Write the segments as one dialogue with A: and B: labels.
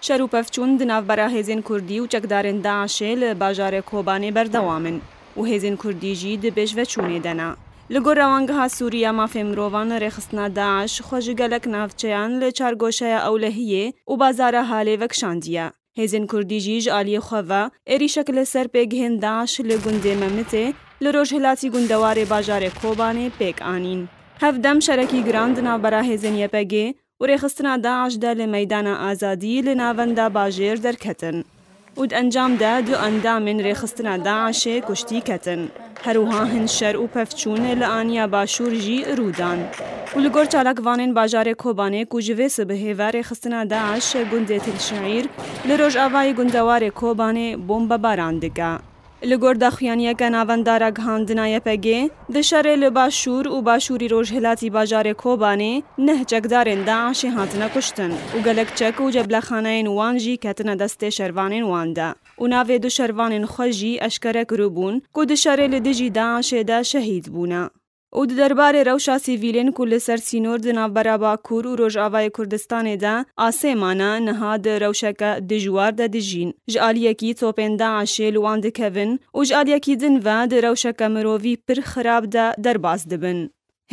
A: Şer û pevçûn di navbera hêzên Kurdî û çekdarên DAIŞ'ê li bajarê Kobanê berdewam in û hêzên Kurdî jî di pêşveçûnê de ne. Li gor Rewangeha Sûrî ya Mafên Mirovan rêxistina DAIŞ xwe ji gelek navçeyan li çargoşeya Ewlehiyê û bazara Halê vekişandiye. Hêzên Kurdî jî ji aliyê xwe ve êrîşek li ser pêgihên DAIŞ li gundê Memitê li rojhilatî gundewarê bajarê Kobanê pêk anîn. Hev dem şerekî giran di navbera hêzên YPGê û rêxistina DAIŞ de li Meydana Azadî li navenda bajêr derketin û di encam de du endamên rêxistina DAIŞê kuştî ketin. Her wiha hin şer û pevçûn li aniya Başûr jî rû dan û li gor çalakvanên bajarê Kobanê ku ji vê sibihê ve rêxistina DAIŞ li gundê Tilşeîr li rojavayê gundewarê Kobanê bombebaran dike. Li gor daxuyaniyeke navenda ragihandina YPGê, di şerê li Başûr û Başûrî Rojhilatî bajarê Kobanê neh çekdarên DAIŞê hatine kuştin û gelek çek û ceblexaneyên wan jî ketine destê şervanên wan de. û navê du şervanên xwe jî eşkere kiribûn ku di şerê li dijî DAIŞ'ê de şehîd bûne û di derbarê rewşa sivîlên ku li ser sînor di navbera Bakur û Rojavayê Kurdistanê de asê mane niha di rewşeke dijwar de dijîn, ji aliyekî topên DAIŞ'ê li wan dikevin û ji aliyekî din ve di rewşeke mirovî pir xirab de derbas dibin.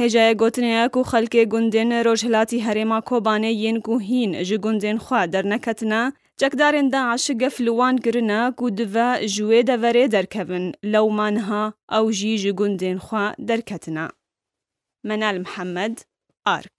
A: Hêjayê gotinê ye ku xelkê gundên rojhilatî herêma Kobanê yên ku hîn ji gundên xwe derneketine, çekdarên DAIŞ gef li wan kirine ku dive ji wê deverê derkevin, lewma niha ew jî ji gundên xwe derketine. Menal Mihemed, ark.